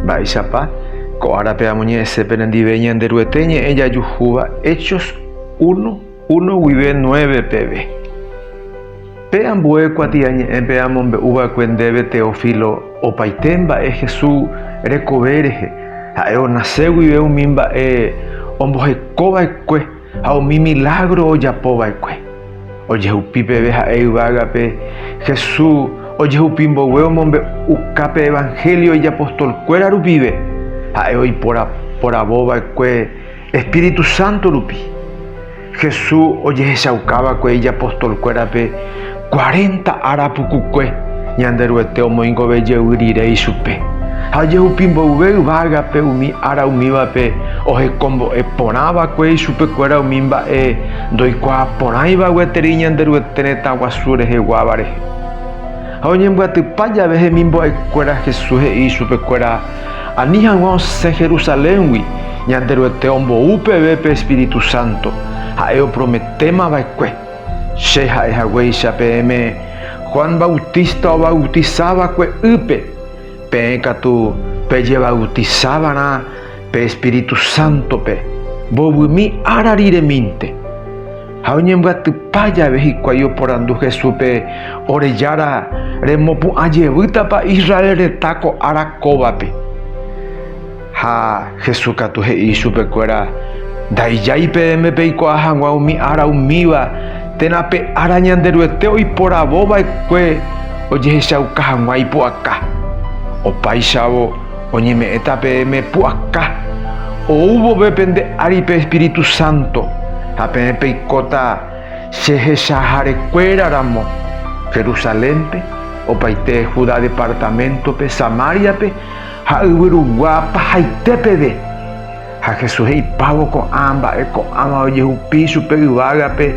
Mba'éichapa ko árape amoñe'ẽse penendive Ñanderuete ñe'ẽ jajuhúva Hechos uno, uno guive nueve peve. Pe ambue kuatiañe'ẽpe amombe'u va'ekue ndéve Teófilo opaite mba'e Hesu rekove rehe, ha'e onase guive umi mba'e omboheko va'ekue, Ha umi milágro ojapo va'ekue, ojehupi peve ha'e yvágape Jesús ojehupi mboyve omombe'uka pe Evangelio ijapostolkuéra rupive, ha'e oiporavo va'ekue Espíritu Santo rupi. Jesús ojehechauka va'ekue ijapostolkuérape Cuarenta ára pukukue Ñanderuete omoingove jevy rire ichupe, ha jehupi mboyve yvágape umi ára umívape ohekombo'e porã va'ekue ichupekuéra umi mba'e ndoikuaa porãiva gueteri Ñanderuete retã guasu reheguáva rehe. Ha oñembyatypa jave hemimbo'ekuéra Jesús he'i ichupekuéra, Ani hag̃ua osẽ Jerusaléngui, Ñanderuete ombou peve pe Espíritu Santo, ha'e oprometéma va'ekue. Che ha'e haguéicha peẽme, Juan Bautista ovautisa va'ekue ýpe, peẽ katu pejevautisa va'erã pe espíritu sántope mbovymi ára riremínte. Ha oñembyatypa jave hikuái oporandu Jesúspe, Ore Jára, remopu'ã jevýtapa Israel retã ko ára kóvape? Ha Jesús katu he'i ichupe kuéra, Ndaijái peẽme peikuaa hag̃ua umi ára umíva, térã pe ára Ñanderuete oiporavo vaekue ojehechauka hag̃ua ipu'aka. Opáichavo, oñeme'ẽta peẽme pu'aka, ou vove pende ári pe Espíritu Santo, ha peẽ peikóta che hechaháre kuéra ramo, Jerusalénpe, opaite Judá departaméntope, Samáriape, ha yvyrugua pahaite peve. Ha Jesús he'ipávo ko'ã mba'e ko'ãva ojehupi chupe yvágape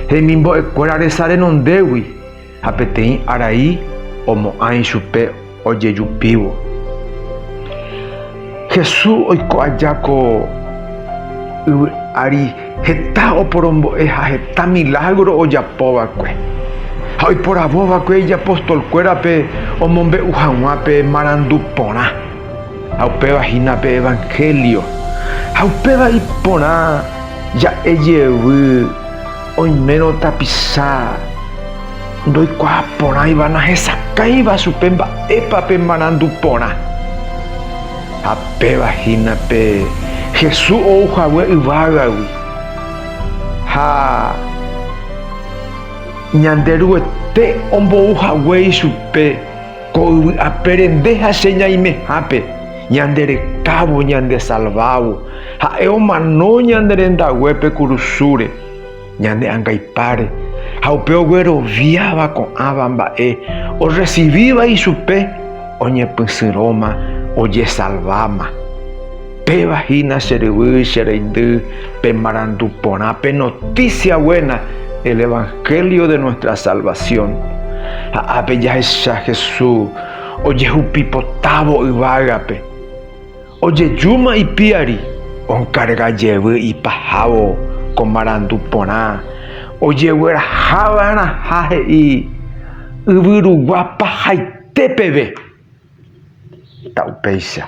hemimbo'ekuéra resa renondégui, ha peteĩ arai omo'ã ichupe ojejupívo. Jesús oiko aja ko yvy ári. Heta oporombo'e ha heta milágro ojapo va'ekue ha oiporavo va'ekue ijapostolkuérape omombe'u hag̃ua pe marandu porã ha upéva hína pe Evanhélio. Ha upéva iporã ja'e jevy oimérõ tapicha ndoikuaa porãiva nahesakãiva chupe mba'épa pe marandu porã. Ha péva hína pe Jesús ou hague yvágagui, ha Ñanderuete ombou hague ichupe ko yvy apére nde ha che ñaimehápe, ñande rekávo, ñande salvávo, ha'e omano ñane rendaguépe kurusúre. Ñane angaipáre ha upe ogueroviáva ko'ãva mba'e orresivíva ichupe oñepysyrõma ojesalváma. Péva hína che ryvy, che reindy, pemarandu porã pe notísia guéna, el evanhélio de nuestra salvasión. Ha ápe jahecha Jesús ojehupipotávo yvágape. Ojejúma ipiári, onkarga jevy ipahávo ko marandu porã ojegueraha va'erãha he'i yvyrugua pahaite peve. Heta upéicha.